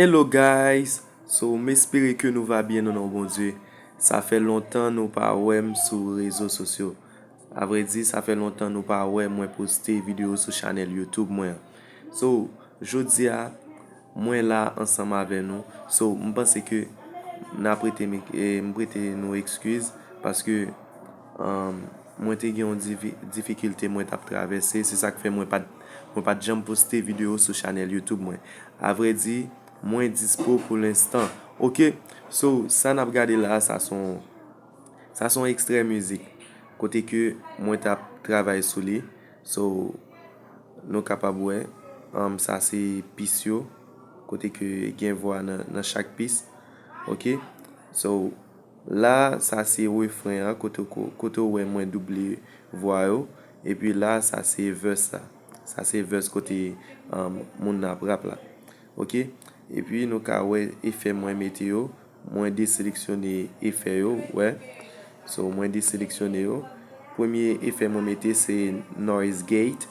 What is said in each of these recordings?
Hello guys so m espere ke nou va byen nan non Bondye sa fè lontan nou pa wè m sou rezo sosyo a vre di sa fè lontan nou pa wè mwen poste video sou chanèl YouTube mwen an so jodia Mwen la ansanm avè nou. So m panse ke n a prete m m prete nou ekskiz paske mwen te gen yon difikilte mwen t ap travèse. Se sa k fè mwen pa t mwen pa t janm poste videyo sou chanèl Youtube mwen. Avrèdi, mwen dispo pou lenstan. Oke, so sa n ap gade la a sa s on sa s on ekstrè mizik kote ke mwen t ap travay sou li. So nou kapab wè sa se pis yo kote ke gen vwa nan chak pis. Ok so la sa se refren an kote ou wè mwen double vwa yo. E pi la sa se vès la. Sa se vès kote moun nan ap rap la. Ok e pi nou ka wè efè mwen mete yo. Mwen deseleksyone efè yo wè. So mwen deseleksyone yo. Premye efè mwen mete se noise gate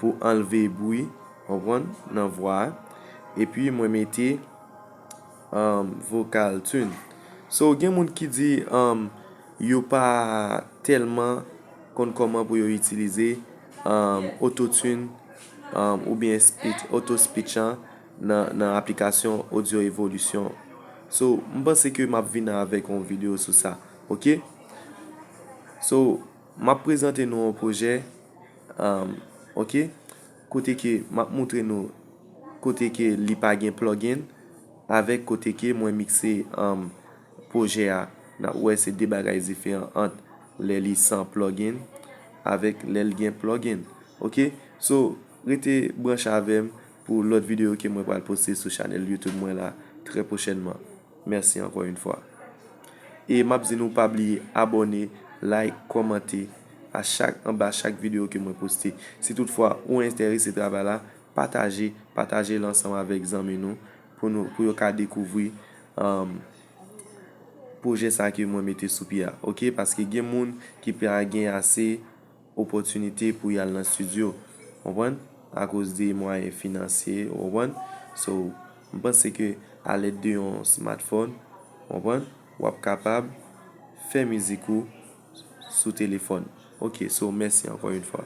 pou anlve bwi konprann nan vwa a. Epi mwen mete vocal tune. So gen moun ki di yo pa tèlman konn kòman pou yo itilize auto tune oubyen auto speech an. nan aplikasyon audio evolution so m panse ke map vini avèk yon video sou sa ok so map prezante nou yon pwojè ok kote ke map moutre nou kote ke li pa gen plugin avèk kote ke mwen mikse pwojè a nap wè se 2 bagay diferan ant lè li san plugin avèk lèl gen plugin ok so rete branche avèm Pou lòt videyo ke mwen pral poste sou chanèl YouTube mwen la trè pwochènman. Mèsi ankò yon fwa. E map di nou pa bliye abòne, like, kòmante a chak anba chak videyo ke mwen poste. Si tout fwa ou entèrese travay la, pataje, pataje l ansanm avèk zanmi nou pou nou, pou yo ka dekouvri pwojè sa ke mwen mete sou pye a ok. Paske gen moun ki pa gen ase. opòtinite pou yal nan studio konprann akoz de mwayen finansye ou konprann so m panse ke a lèd de yon smartphone ou konprann wap kapab fè mizik ou sou telefòn ok so mèsi ankò yn fwa.